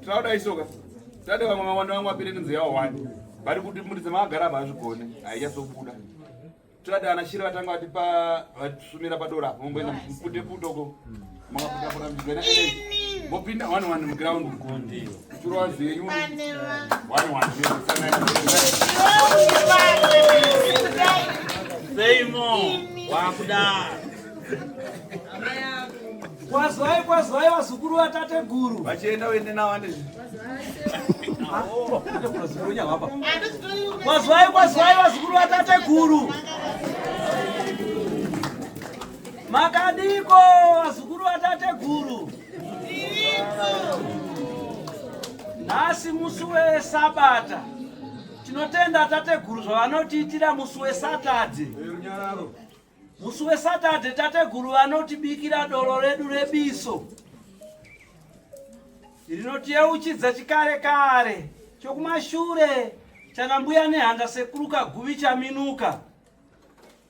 Tinoda isoka. Tade vamwe mawanda wangu apere nzira yawo wani. Bari kuti muri dzema agara ba zvigone. Aiya so buda. Tinoda ana shira vatanga vati pa vasumira pa dora. Mumbo ina mpude putoko. Mwa kuda kuda mjena ele. Mbo pinda one one mu ground ku ndio. Turo wazi yungu. One one. Say more. Wakuda. Amaya. Kwazwai kwazwai vazukuru vatateguru. Vachienda uende navo ane zvinhu. Kwazwai kwazwai vazukuru vatateguru. Makadiko vazukuru vatateguru. Nhasi musi wesabata tinotenda tateguru zvavanotiitira musi wesatadze. Musi weSatade tateguru vanotibikira doro redu rebiso rinotiyeuchidza chikare kare chokumashure chana mbuya nehanda sekuru kaguvi chaminuka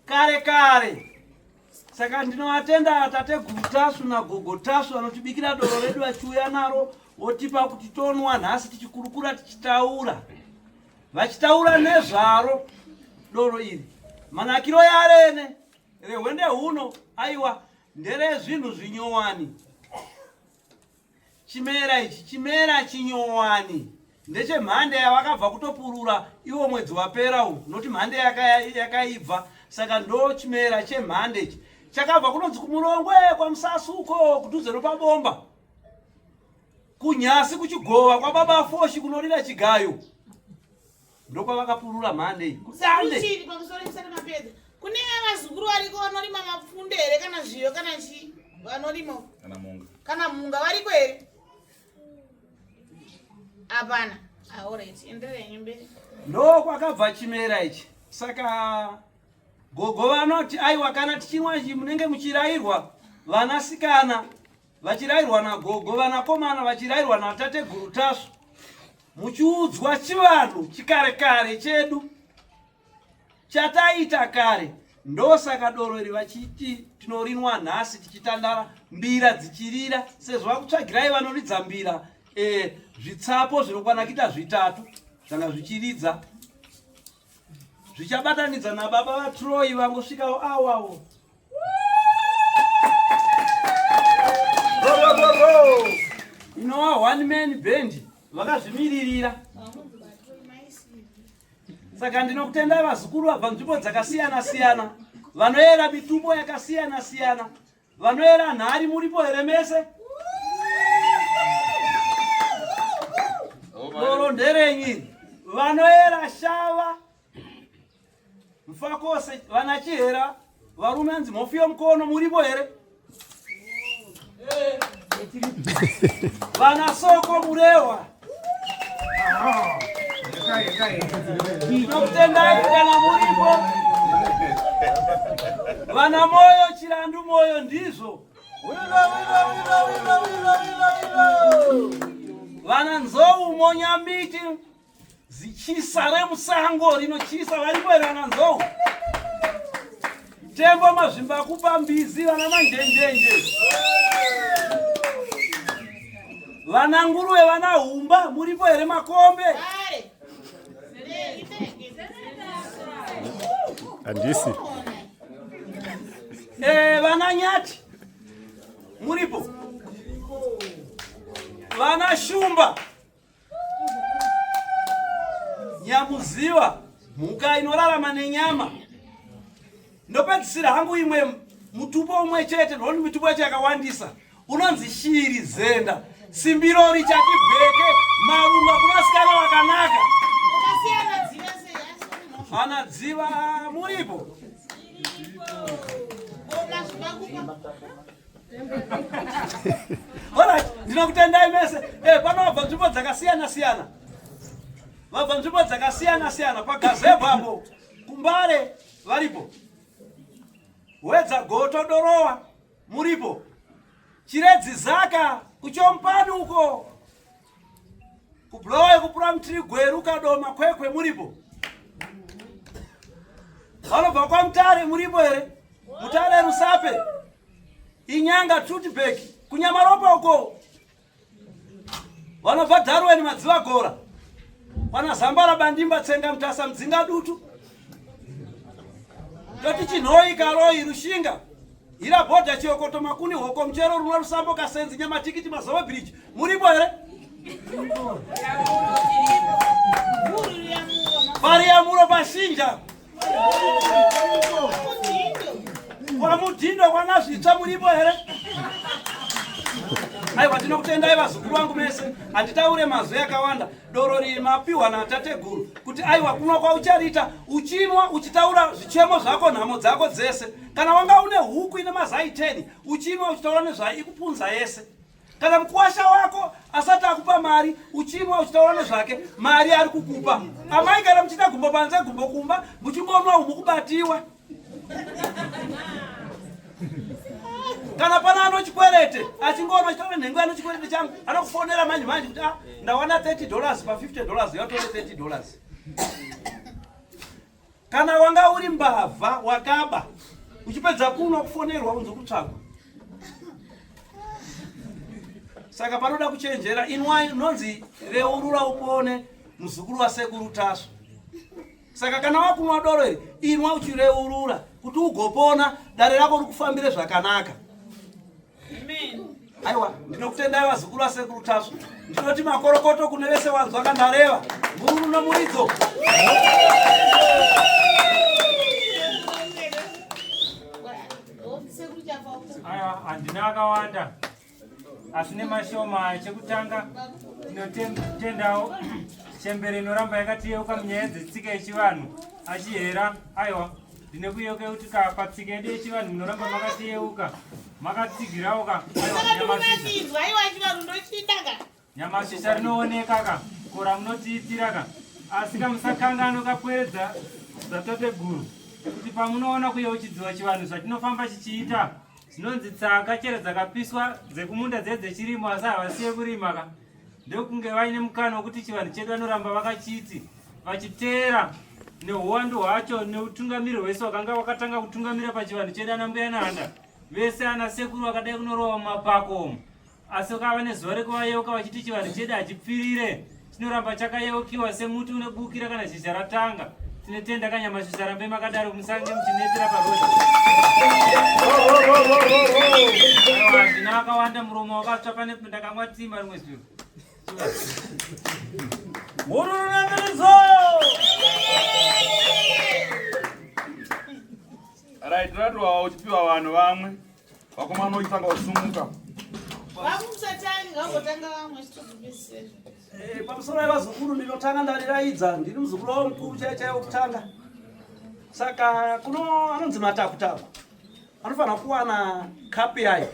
kare kare saka ndinovatenda tateguru tasu nagogo tasu vanotibikira doro redu vachiuya naro votipa kuti tonwa nhasi tichikurukura tichitaura Vachitaura nezvaro doro iri, manakiro yarene rehwende huno aiwa ndere zvinhu zvinyowani. Chimera ichi chimera chinyowani ndechemhande yavakabva kutopurura iwo mwedzi wapera uyu noti mhande yakaibva saka ndo chimera chemhande ichi chakabva kunonzi kumurongwe kwamusasuko kudhuze nopabomba Kunyasi kuchigova kwababa Foshi kunorira chigayo ndokwavakapurura mhande kusande kune vazukuru variko vanorima mapfunde here kana zviyo kana chii vanorima kana munga kana munga variko here hapana aorit ah, enderenyi mberi ndo kwakabva chimera ichi saka gogo vanoti aiwa kana tichinwa munenge muchirairwa vanasikana vachirairwa nagogo vanakomana vachirairwa natateguru tasvu muchiudzwa chivanhu chikare kare chedu chataita kare ndosaka doro iri vachiti tinorinwa nhasi tichitandara mbira dzichirira sezvo vakutsvagirai vanoridza mbira e, zvitsapo zvinokwana kuita zvitatu zvanga zvichiridza zvichabatanidza nababa vatroyi vangosvikawo awawo inowa one man band vakazvimiririra saka ndinokutendai vazukuru vabva nzvimbo dzakasiyana siyana vanoyera mitupo yakasiyana siyana Vanoera nhari muripo here mese? Doro nderenyi? Vanoera shava mfakose vana chihera varume anzi mhofu yomukono muripo here? Vana soko murewa Ndokutendai kana muripo vana moyo chirandu moyo ndizvo vana nzou monyambiti zichisa remusango rinochisa varipo here vana nzou Tembo mazvimba akupa mbizi vana manjenjenje. Vana nguruwe vana humba muripo here makombe? Andisi. Eh, vana nyati muripo. Vana shumba Nyamuziva mhuka inorarama nenyama. Ndopedzisira hangu imwe mutupo umwe chete ndokuti mitupo yacho yakawandisa unonzi shiri zenda simbiro richati bheke marunga kunasikana wakanaka hana dziva muripo Alright, ndinokutendai mese. Eh, pano vabva nzvimbo dzakasiyana siyana. Vabva nzvimbo dzakasiyana siyana pagazebwa apo. Kumbare varipo. Wedza goto dorowa muripo. Chiredzi zaka kuchompani uko. Kublowe kupura mtiri gweru kadoma kwekwe muripo. Vanobva kwa mtare muripo here? Mutare rusape. Inyanga truth back kunyamaropa uko. Vanobva Darwin madziva gora. Pana Zambara bandimba tsenga mtasa mdzinga dutu. toti chinhoyi karoyi rushinga hira bhodha chiokoto makuni hoko muchero runwa rusambo kasenzi nyamatikiti mazova bridge muripo here variyamuro pashinja kwamudhindo kwanazvitsva muripo here aiwa ndinokutendai vazukuru vangu mese handitaure mazwi akawanda doro riyi mapiwa natateguru kuti aiwa kunwa kwauchariita uchinwa uchitaura zvichemo zvako nhamo dzako dzese kana wanga une huku ine mazai 10 uchinwa uchitaura nezvayo ikupunza yese kana mukuwasha wako asati akupa mari uchinwa uchitaura nezvake mari ari kukupa amai kana muchiita gumbo panze gumbo kumba muchingonwa umukubatiwa kana pana ano chikwerete achingoona chitore nhengo ano chikwerete changu anokufonera manje manje kuti ah, ndawana 30 dollars pa 50 dollars yatore 30 dollars kana wanga uri mbavha wakaba uchipedza kunwa kufonerwa unzi kutsvagwa saka panoda kuchenjera inwai nonzi reurura upone muzukuru wasekuru taswa Saka kana wakunwa doro iri, inwa uchireurura kuti ugopona, dare rako rikufambire zvakanaka. Amen. Aiwa, ndinokutendai vazukuru vasekuru Tasvu. Ndinoti makorokoto kune vese wanzwa kandareva. Mururu nomuridzo. Aiwa, handina akawanda. asi nemashoma chekutanga tinotendawo chembere inoramba yakatiyeuka munyaya dzetsika yechivanhu achihera aiwa ndine kuyeuka kuti ka patsika yedu yechivanhu munoramba makatiyeuka makatsigirawo ka aiwa Nyamashi charinooneka ka ko ramunotiitira ka asi ka musakanganwe kapweredza zvatateguru kuti pamunoona kuyeuchidziwa chivanhu zvatinofamba chichiita zvinonzi tsaka chero dzakapiswa dzekumunda dze dzechirimo asi havasiye kurima ka ndokunge vaine mukana wekuti chivanhu chedu vanoramba vakachiti vachiteera neuwandu hwacho neutungamiri hwese wakanga wakatanga kutungamira pachivanhu chedu ana mbuya nanda vese ana sekuru vakadai kunorowa mumapako omo Asi ukava nezuva rekuvayeuka vachiti chivanhu chedu hachipfirire chinoramba chakayeukiwa semuti unebukira kana zhizha ratanga tinotenda kanyamashi sarambe makadaro musange muchinetera parodi hazvina vakawanda muromo wakatsva pane ndakamwa timba rimwe zviro hururunamiridzo right ratowawa uchipiwa vanhu vamwe vakomana uchitanga usumuka eh, pamusoro yevazukuru ndinotanga ndariraidza ndiri muzukuru wavo mukuru chaiye chaiye wokutanga saka kuno anonzi matakutaku anofanira kuwana kapu yayo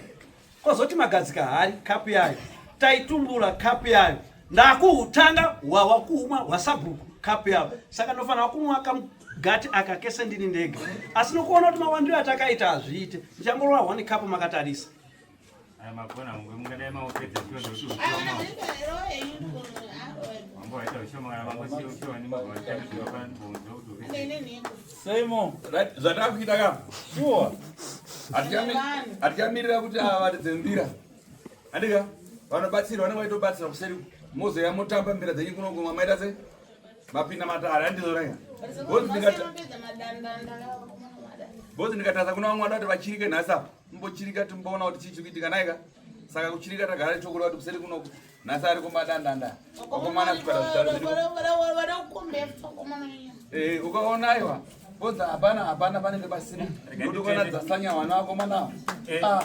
kozoti magadzika hari kapu yayo taitumbura kapu yayo ndakuhutanga hwawa kuumwa hwasabhuku kapu yavo saka ndofanira kumwa kamugati aka kese ndini ndega asi nokuona kuti mawandiro atakaita hazviite ndichangorova one kapu makatarisa zvatakuita ka sure hatichamirira kuti avaridze mbira Andika vanobatsira vanenge vaitobatsira kuseri mozoya motamba mbira dzenyu kuno kumwa maita se mapinda matare andizorega bozi ndikatadza kuna vamwe vada kuti vachirike nhasi apa mbochirika timboona kuti chii chiri kuitika naika saka kuchirika tagara chokureva kuti kuseri kunoku nhasi ari kumadandanda vakomana eh, ukaona aiwa bozi hapana hapana panenge pasina kuti ukona dzasanya vana vakomana ava eh. ah.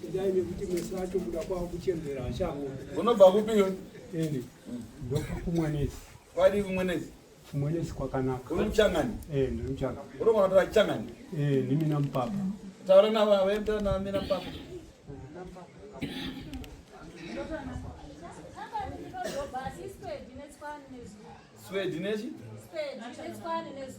Kudai nekuti mese acho kuda kwavo kuchembera achango. Unobva kupi iwe? Ini. Ndobva kumwenezi. Kwadi kumwenezi? Kumwenezi kwakanaka. Uri muchangani? Eh, ndiri muchangani. Uri mwana tora changani? Eh, ndimi na mpapa. Taura na baba, wewe mtana na mina mpapa. Na mpapa. Swedi nechi? Swedi nechi? Swedi nechi?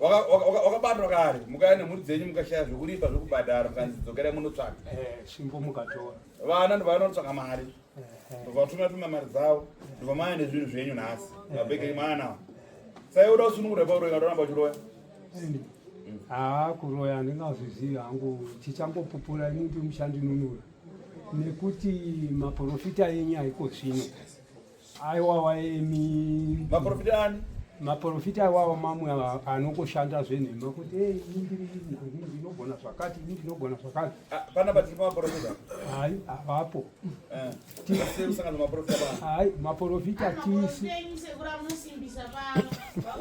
wakabatwa kare mukaya nemhuri dzenyu mukashaya zvekuripa zvekubhadhara mukanzi dzokerai munotsvaka eh, vana ndovanotsvaka mari eh. ndovatumira tumira mari dzavo ndovamaya nezvinhu zvenyu nhasi eh. mabhekeri mwana sai uda kusunungura pauroya unoramba uchiroya haa kuroya handingazvizivi hangu chichangopupura ini ndi mushandinunura nekuti maporofita enyu haiko zvino aiwawa imi maporofita ani maporofita awawa mamwe anokoshanda zvenhema kuti ndinogona zvakati ini ndinogona zvakati ah, pana patiri pamaporofita hai havapo eh, hai maporofita tisi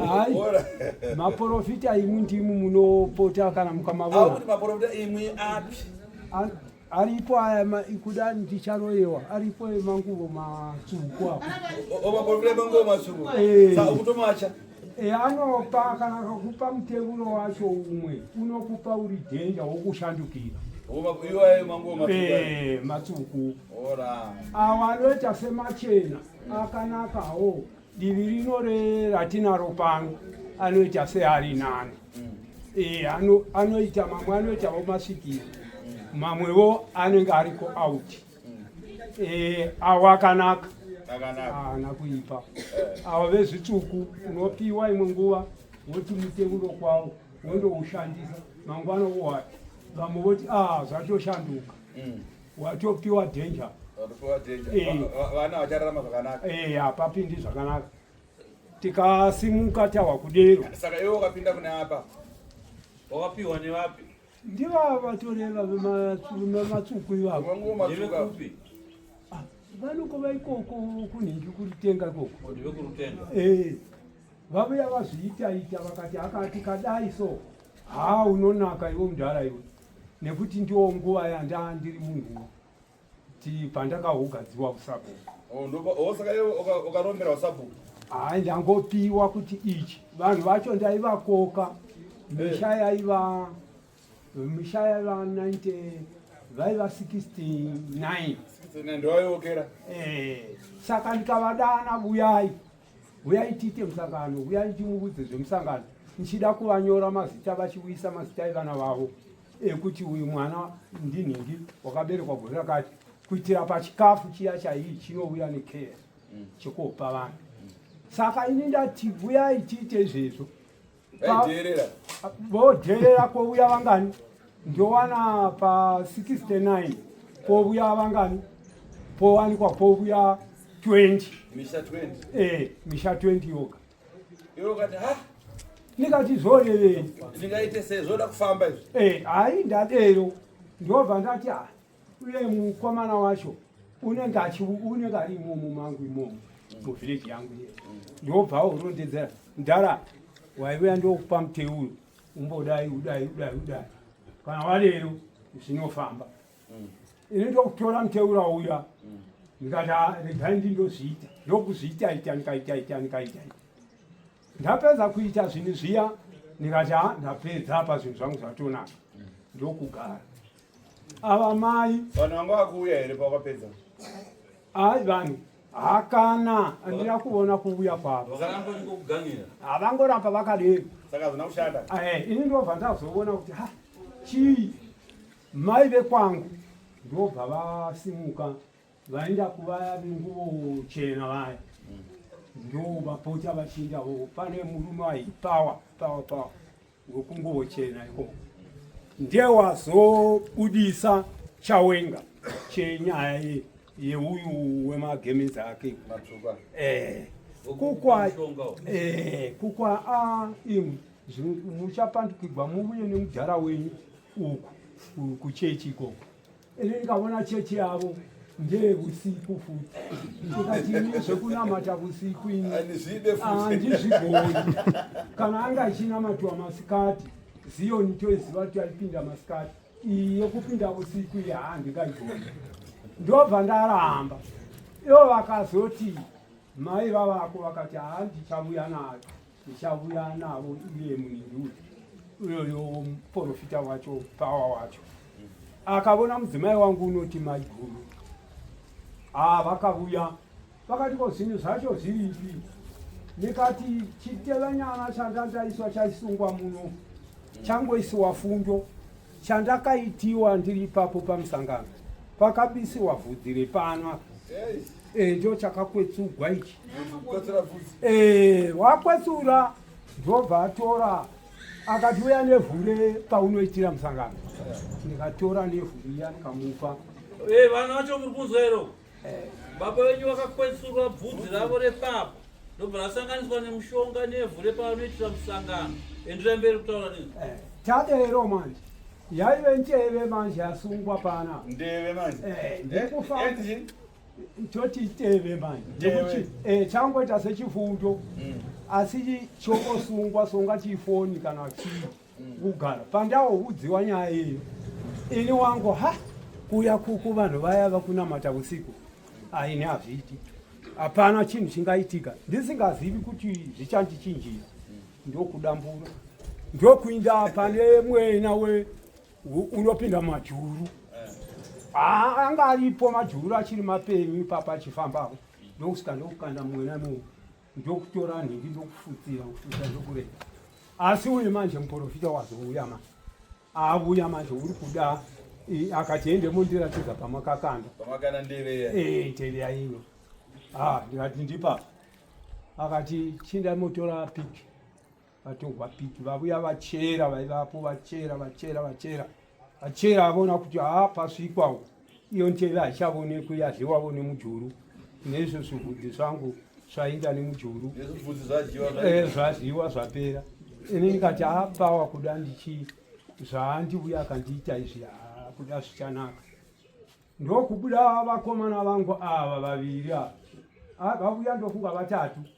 hai maporofita imwi ndimwi munopota kana mukamavona aripo aya ma- kuda ndicharoyewa aripo emanguvo matsvuku apo omaporofita manguva masuku Eh. sa ukutomacha e, anopa kana akakupa mutevuro wacho umwe unokupa uri dhenja wokushandukira iwayo manguva masuku e, matsvuku ora awo anoita semachena akanakawo Divi rino ratinaro pano anoita seari nani mm. e, ano, anoita mamwe anoitawo masikiro mm. mamwewo anenge ariko out mm. e, eh, awo akanaka haana kuipa eh. awa vezvitsvuku unopiwa imwe nguva woti muteuro kwawo wondoushandisa mangwana wowa vamwe voti a ah, zvatoshanduka mm. watopiwa danger watopiwa danger eh. vana vachararama zvakanaka eh hapapindi zvakanaka tikasimuka tawa kudero saka iwe wakapinda kune apa wakapiwa nevapi ndiva vatoreva vematsuku ivavo ah, vanoko vaikoko kunhingi kuritenga ikoko eh, vavuya vazviitaita vakati akati kadai so haa unonaka iwe mudhara iwe nekuti ndiwo nguva yanda ndiri munhu ti pandakaugadziwa kusabhuku oh, oh, saka iwe ukarombera usabhuku hayi ndangopiwa kuti ichi vanhu vacho ndaivakoka eh. misha yaiva misha yaiva 90 vaiva 69 eh, saka ndikavadana vuyai huyai tiite musangano huyai ndimuudze zvemusangano ndichida kuvanyora mazita vachiuyisa mazita evana vavo ekuti uyu mwana ndinhingi wakaberekwa gore rakati kuitira pachikafu chiya chaiyi chinouya nekeya mm. chekuopa vanhu saka ini ndati vuyai tiite izvezvo vodherera kwovuya vangani ndowana pa 69 kwovuya vangani powanikwa kwovuya 20 misha 20 eh misha 20 yoga yokati ha ndikati zvorevei ndingaite sei zvoda kufamba izvi eh hayi ndadero ndobva ndati ha ah, uye mukomana wacho unenge unenge ari imomo mangu imomo muvhileji yangu iye ndobva urondedzera mdhara waivuya ndokupa muteuyo umbodai udai udai udai kana walero zvinofamba mm. ini ndokutora muteura uya mm. ndikati ah, regai ndi ndozviita ndokuzviita ita ndikaita ita ndikaita ndapedza kuita zvinhu zviya ndikati a ah, ndapedza apa zvinhu zvangu zvatonaka mm. ndokugara ava mai vanhu vanga vakuuya here pawakapedza ai vanhu hakana andina kuona kuuya kwavo havangoramba vakadero eh, ini ndobva ndazoona kuti ha chii mai vekwangu ndobva vasimuka vaenda kuvaya venguvo chena vaya ndovapota vachinda pane murume aipawa pawa pawa wekunguvo chena ikoko ndiye wazobudisa chawenga chenyaya ye yeuyu wemagemenzi ake eh, kukwa eh, kukwa ah, imwe muchapandukigwa muvuye nemudhara wenyu uku kuchechi ikoko ini ndikavona chechi yavo ndeyevusiku futi ndikatii zvekunamata vusiku ini handizvigoni kana anga achinamatiwa masikati ziyoni toiziva kuti aipinda masikati iyi yekupinda vusiku iyi haa ndingaigoni ndobva ndaramba ivo vakazotii mai vavako vakati handichavuya nayo ndichavuya navo iye muningi uyu uyoyo muporofita wacho pawa wacho akavona mudzimai wangu unoti mai guru haa vakavuya vakati ko zvinhu zvacho zviripi ndikati chitevanyana chandandaiswa chaisungwa muno changoisiwa fundo chandakaitiwa ndiri ipapo pamusangano pakabisiwa vhudzi repanwa eh, ndo chakakwetsugwa ichi eh, wakwetsura ndobva atora akati uya nevhure paunoitira musangano ndikatora nevhuriya ndikamupa eh, vanhu vacho muri kunzwero Baba venyu vakakwetsurwa bvudzi ravo repapa ndobva rasanganiswa nemushonga nevhu repavanoitira musangano endirai mberi kutaura nini eh, tadero manje yaive nteve manje yasungwa pana ndeve manje eh, ndikufa toti iteve manje nekuti eh, changoita sechifundo mm. asi chokosungwa songa chifoni kana chii kugara pandauudziwa nyaya iyo ini wangu ha kuya kuku vanhu vaya vakunamata usiku aini hazviiti hapana chinhu chingaitika ndisingazivi kuti zvichandichinjira ndokudambura ndokuinda pane mwena we unopinda majuru anga aripo majuru achiri mapenyu ipapa achifambapo ndokusika ndokukanda mwena mu ndokutora nhindi ndokufutsira kufutsira ndokurega asi uye manje muporofita wazouya ma avuya manje uri kuda akati ende mondiratidza pamakakanda pamakana ndeveya eh ndeveya ino ah ndikati ndipapa akati chinda motora pic vatorwa piki vavuya vachera vaivapo vachera vachera vachera vachera avona kuti haa pasvikwawo iyo nteve haichavonekwi yadliwavo nemujuru neizvo zvivhudzi zvangu zvainda nemujuru eh, zvadliwa zvapera ini ndikati haa pawa kuda ndichi zvaandivuya akandiita izvi haa kuda zvichanaka ndokubuda vakomana vangu ava vaviri ava ah, vavuya ndofunga vatatu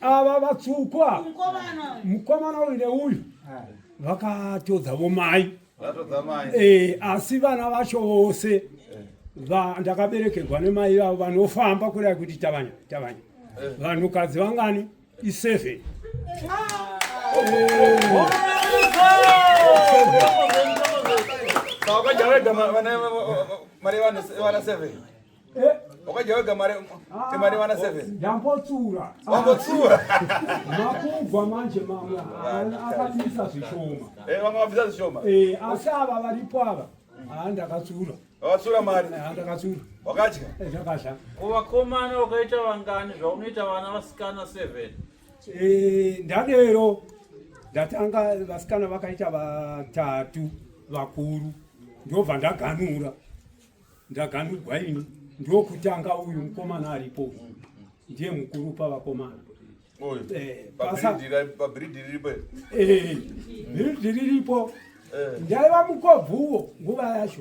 ava vatsukwa mukomana uyu neuyu vakatodza vomai eh, asi vana vacho vose ndakaberekerwa nemai vavo vanofamba kurai kuti tavanya tavanya eh. vanhukadzi vangani iseven ah. eh. Wakadya wega mari ah, mari vana 7. Ndambotsura. Wambotsura. Makubva manje mama akabisa zvishoma. Eh vamwe vabisa zvishoma. Eh asi ava varipo ava. Ah ndakatsura. Wakatsura mari. Ah ndakatsura. Wakadya? Eh ndakadya. Kuvakomana wakaita vangani zvaunoita vana vasikana 7. Eh ndadero. Ndatanga vasikana vakaita vatatu vakuru. Ndobva ndaganura. Ndaganhigwa ini ndokutanga uyu mukomana aripo uyu ndiye mukuru pavakomana eh, pabhiridhi riripo eh, bhiridhi riripo eh. ndaiva mukobvuwo nguva yacho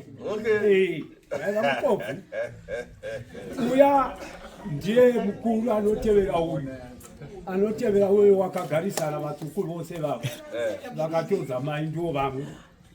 ndaiva mukobvu uya ndiye mukuru anotevera uyu anotevera uyo wakagarisana vatukuru vose vavo vakatodza mai ndiwo vamwe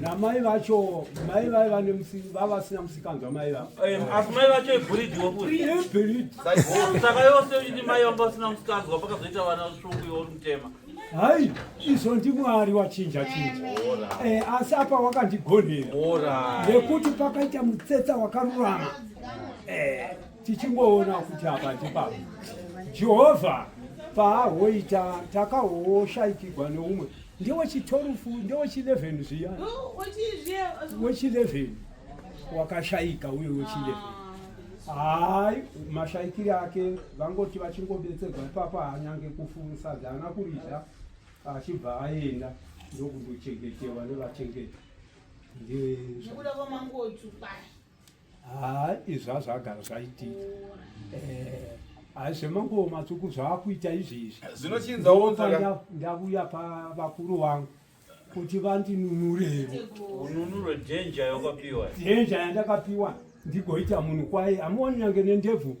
namai vacho mai vai vane vavasina musikanzwa mai vavoasi mai vacho ibhuridhiwousaka yose uiti mai vanga vasina musikanzwa pakazoita vana svungu iwori mutema hai izvo ndimwari wachinja chinja eh, asi apa wakandigonhera nekuti pakaita mutsetsa wakarurama eh. Tichingoona kuti apa ndipapa Jehovha paahoita takahoshaitigwa neumwe ndewechitorufu ndewechi11 zviya wechi11 wakashaika uye wechi11 hayi mashaikiri ake vangoti vachingobetserwa ipapa hanyange kufurusa dzaana kuridza achibva aenda ndokundochengetewa nevachengeti ndezvo haa izvi azvagara zvaitika eh, haa zvemanguwo matsvuku zvaakuita izvezvi zvinochinzandauya pavakuru vangu kuti vandinunurevo ununuro dhenja yakapiwa dhenja yandakapiwa ndigoita munhu kwaye amuoni nyange nendebvu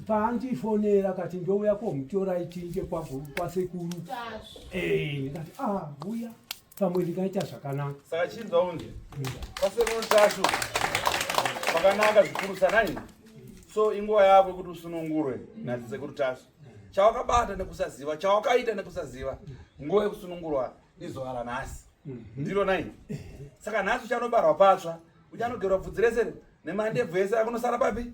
paandifonera akati ndouya komutora itinge kwasekuru eh, ndikati a ah, uya pamwe ndingaita zvakanaka saka chinzwa unje kwasekuru tashu kwakanaka zvikuru sanani so inguva yako yekuti usunungurwe nadzisekuru tashu chawakabata nekusaziva chawakaita nekusaziva nguva yekusunungurwa izuva ranhasi mhm. ndiro nai saka nhasi uchanobarwa patsva uchanogerwa bvudzi rese nemandebvu ese akunosara papi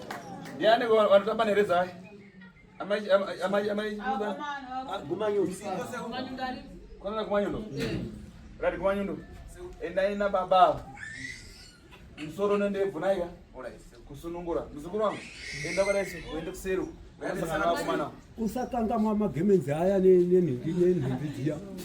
Ndiani vanotamba nerezai? Amai amai amai kumanyundo. Kwanza kumanyundo. Rati kumanyundo. Endai na baba. Msoro nende vunaika. Kusunungura. Mzukuru wangu. Enda kwa Yesu, uende kuseri. Usakangamwa magemenzi aya nenhindi nenhindi dziya.